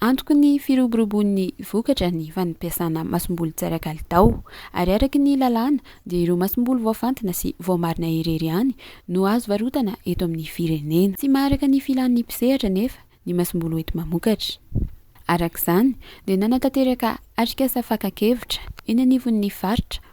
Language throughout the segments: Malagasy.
Antoky ny firoborobon'ny vokatra ny fanmpiasana masomboly tsy ara-kalitao, ary araka ny lalàna dia ireo masomboly voafantina sy voamarina irery ihany no azo varotana eto amin'ny firenena. Tsy maharaka ny filan'ny mpisehatra anefa ny masomboly hoenti-mamokatra. Araka izany dia nanatanteraka atrikasa fakan-kevitra eny anivon'ny faritra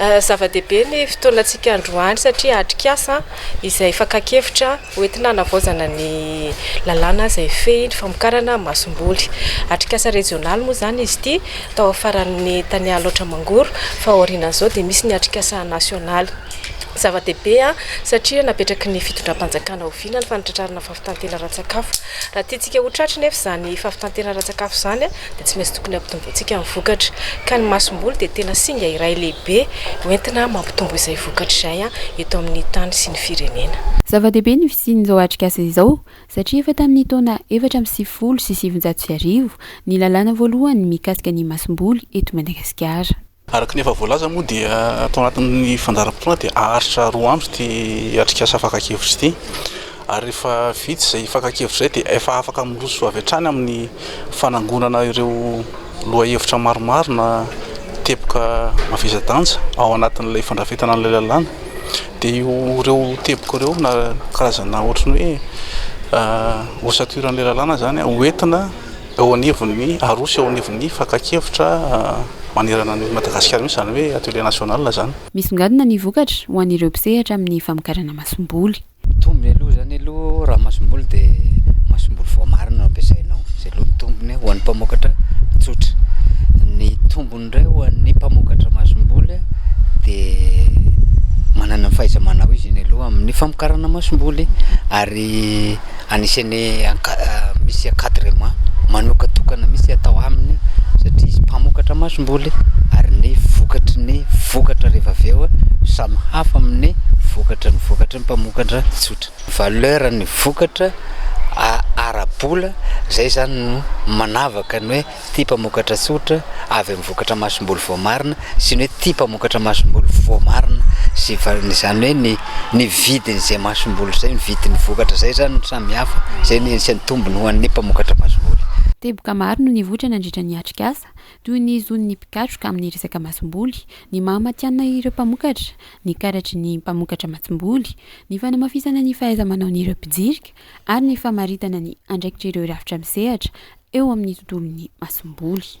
Zava-dehibe ny fotoanantsika androany satria atrikasa izay fakan-kevitra hoentina hanavaozana ny lalàna izay hifehy ny famokarana masomboly. Atrikasa rejionaly moa izany izy ity tao amin'ny faran'ny tany Alaotra Mangoro fa aorianan'izao dia misy ny atrikasa nasionaly. Zava-dehibe satria napetraky ny fitondram-panjakana oviana ny fanatratrarana Fitanterana ara-tsakafo. Raha tiantsika ho tratry nefa izany fahafitanterana ara-tsakafo izany dia tsy maintsy tokony hampitombointsika ny vokatra. Ka ny masomboly dia tena singa iray lehibe hoentina mampitombo izay vokatra izay eto amin'ny tany sy ny firenena. Zava-dehibe ny fisian'izao atrikasa izao satria efa tamin'ny taona efatra amby sivifolo sy sivinjato sy arivo ny lalàna voalohany mikasika ny masomboly eto Madagasikara. Araka ny efa voalaza moa dia tao anatin'ny fandaharam-potoana dia haharitra roa andro ity atrikasa fakan-kevitra ity ary rehefa vita izay fakan-kevitra izay dia efa afaka miroso avy hatrany amin'ny fanangonana ireo lohahevitra maromaro na teboka mavesa-danja ao anatin'ilay fandrafetana an'ilay lalàna dia io ireo teboka ireo na karazana ohatran'ny hoe osaturan'ilay lalàna izany hoentina eo anivon'ny Aroso eo anivon'ny fakan-kevitra manerana an'i Madagasikara mihitsy izany hoe atelier national izany. Misongadina ny vokatra ho an'ireo mpisehatra amin'ny famokarana masomboly. Ny tombony aloha izany aloha raha masomboly dia masomboly voamarina no ampiasainao, izay aloha ny tombony ho an'ny mpamokatra tsotra. Ny tombony indray ho an'ny mpamokatra masomboly dia manana ny fahaiza-manao izy iny aloha amin'ny famokarana masomboly ary Anisan'ny misy encadrement manokatokana mihitsy atao aminy satria izy mpamokatra masomboly ary ny vokatry ny vokatra rehefa avy eo samy hafa amin'ny vokatry ny vokatry ny mpamokatra tsotra. Valeur ny vokatra ara-bola izay izany no manavaka ny hoe. Tia mpamokatra tsotra avy amin'ny vokatra masomboly voamarina sy ny hoe tia mpamokatra masomboly voamarina sy izany hoe ny ny vidin'izay masomboly izay, ny vidin'ny vokatra izay izany no samy hafa, izay no anisan'ny tombony ho an'ny mpamokatra masomboly. Teboka maro no nivoitra nandritra ny atrikasa, toy ny zon'ny mpikatroka amin'ny resaka masomboly, ny maha matihanina ireo mpamokatra, ny karatry ny mpamokatra masomboly, ny fanamafisana ny fahaiza-manaon'ireo mpijirika, ary ny famaritana ny andraikitr'ireo rafitra misehatra eo amin'ny tontolon'ny masomboly.